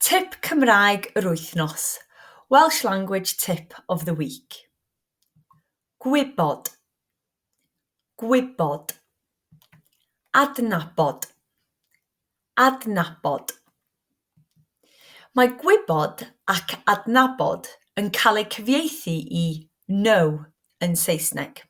Tip Cymraeg yr Wythnos, Welsh Language Tip of the Week. Gwybod, gwybod. Adnabod, adnabod. Mae gwybod ac adnabod yn cael eu cyfieithu i know yn Saesneg.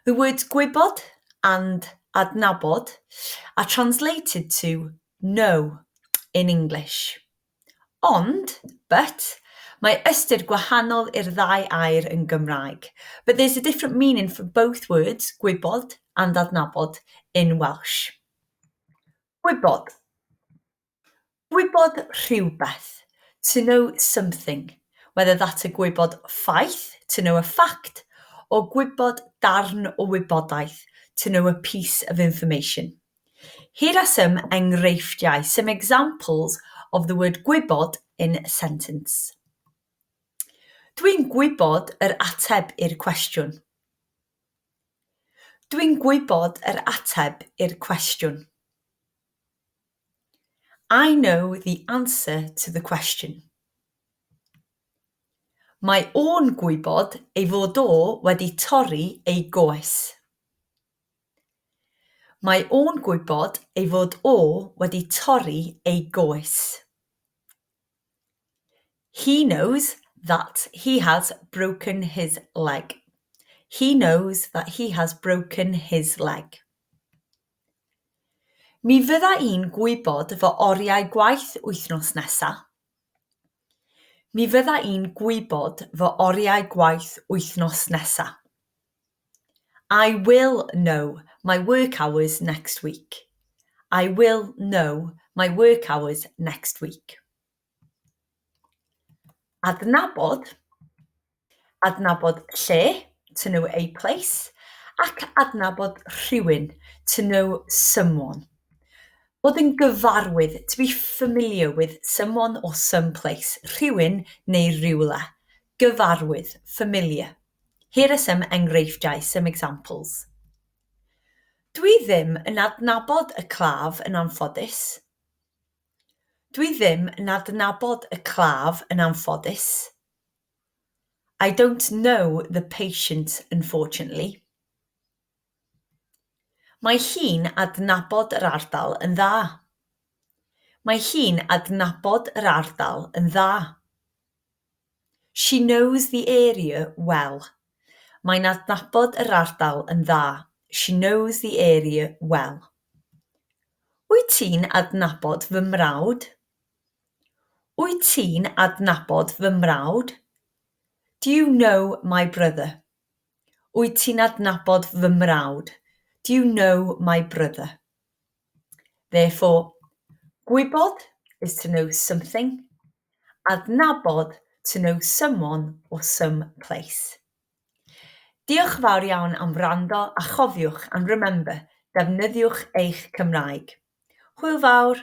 The words gwybod and adnabod are translated to know in English. Ond, but, mae ystyr gwahanol i'r ddau air yn Gymraeg, but there's a different meaning for both words, gwybod and adnabod, in Welsh. Gwybod. Gwybod rhywbeth, to know something, whether that's a gwybod ffaith, to know a fact, or gwybod darn o wybodaeth, to know a piece of information. Here are some enghreifftiau, some examples, of the word gwybod in a sentence. Dwi'n gwybod yr ateb i'r cwestiwn. Dwi'n gwybod yr ateb i'r cwestiwn. I know the answer to the question. Mae o'n gwybod ei fod o wedi torri ei goes. Mae o'n gwybod ei fod o wedi torri ei goes. He knows that he has broken his leg. He knows that he has broken his leg. Mi fydda i'n gwybod fy oriau gwaith wythnos nesa. Mi fydda i'n gwybod fy oriau gwaith wythnos nesa. I will know my work hours next week. I will know my work hours next week. Adnabod, adnabod lle, to know a place, ac adnabod rhywun, to know someone. Bod yn gyfarwydd, to be familiar with someone or some place, rhywun neu rywle. Gyfarwydd, familiar. Here are some enghreifftiau, some examples. Dwi ddim yn adnabod y claf yn anffodus. Dwi ddim yn adnabod y claf yn anffodus. I don't know the patient unfortunately. Mae hi'n adnabod yr ardal yn dda. Mae hi'n adnabod yr ardal yn dda. She knows the area well. Mae'n adnabod yr ardal yn dda. She knows the area well. Wyt ti'n adnabod fy mrawd? Wyt ti'n adnabod fy mrawd? Do you know my brother? Wyt ti'n adnabod fy mrawd? Do you know my brother? Therefore, gwybod is to know something, adnabod to know someone or some place. Diolch yn fawr iawn am wrando a chofiwch and remember, defnyddiwch eich Cymraeg. Hwyl fawr!